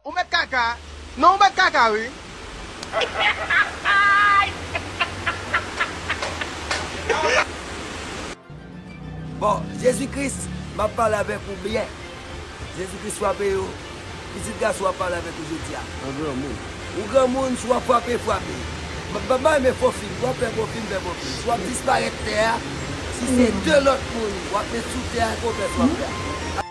Ou met kaka non ou met kaka wi. Bon Jezi Kris map pale avèk ou byen Jezi Kris fwape yo pitit gason ap pale avèk ou jodia. Ou granmoun. Ou granmoun si wap fwape fwape. Mpa renmen fo fim si wap fè fo fim fè fo fim si wap disparèt tè a si se 2 lòt moun wap met sou tè a se yon fès wap fè.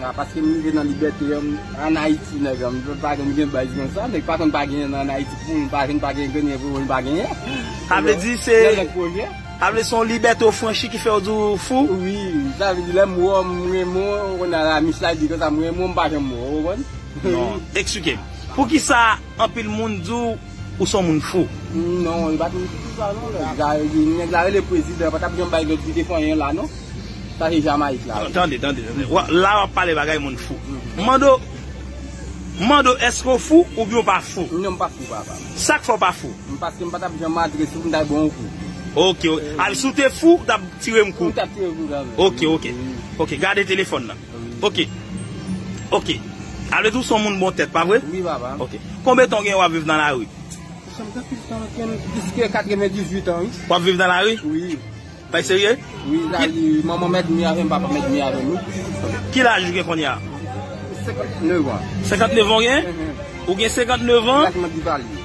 Nan paske m rive nan libète an an Ayiti nèg an m vle pa konn gen baz konsa nèg pa konn pa genyen nan an Ayiti pou l pa vin pa gen grenyen pou l pa genyen sa vle di se yon lòt pwojè sa vle di se yon libète ou franchi ki fè w di w fou wi sa vle di lè m wè w m renmen w konn a la mis la di konsa m renmen w m pa janm wè w ou konprann eksplike m poukisa anpil moun di w. Ou son moun fou. Non li pa te ekri sa non nèg la nèg la rele prezidan pa tap janm bay lòt zide fanyen la non sa se jamaik la wi. Tande tande la wap pale bagay moun fou m mande w m mande w eske w fou oubyen w pa fou. Non m pa fou papa. Sak fè w pa fou? Paske m pa tap janm antre sou pou m ta bon w kou. Ok ok si w te fou ou tap tire m kou. M tap tire w kou kanmèm. Ok ok ok gade telefòn nan. Ok Ok Sa vle di ou son moun bon tèt pa vre? Wi papa Ok Konbe tan ou gen wap viv nan lari? Sa fè plis tan ke m plis ke 98 an wi Wap viv nan lari? Wi Bay serye? Wi lari manman mèt dmi avèm papa mèt dmi avèm wi Ki laj ou gen kounye a? 59 an 59 an ou gen? Ou gen 59 an? Laj mwen di valye.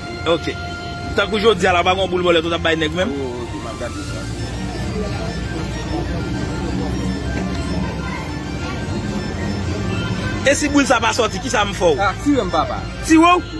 Ok. Tankou jodi a la pa gen yon boul bòlèt ou tap bay nèg menm? Oh ok map gade sa tou. E si boul sa pa soti kisa m fè w? Ah tire m papa. Tire w?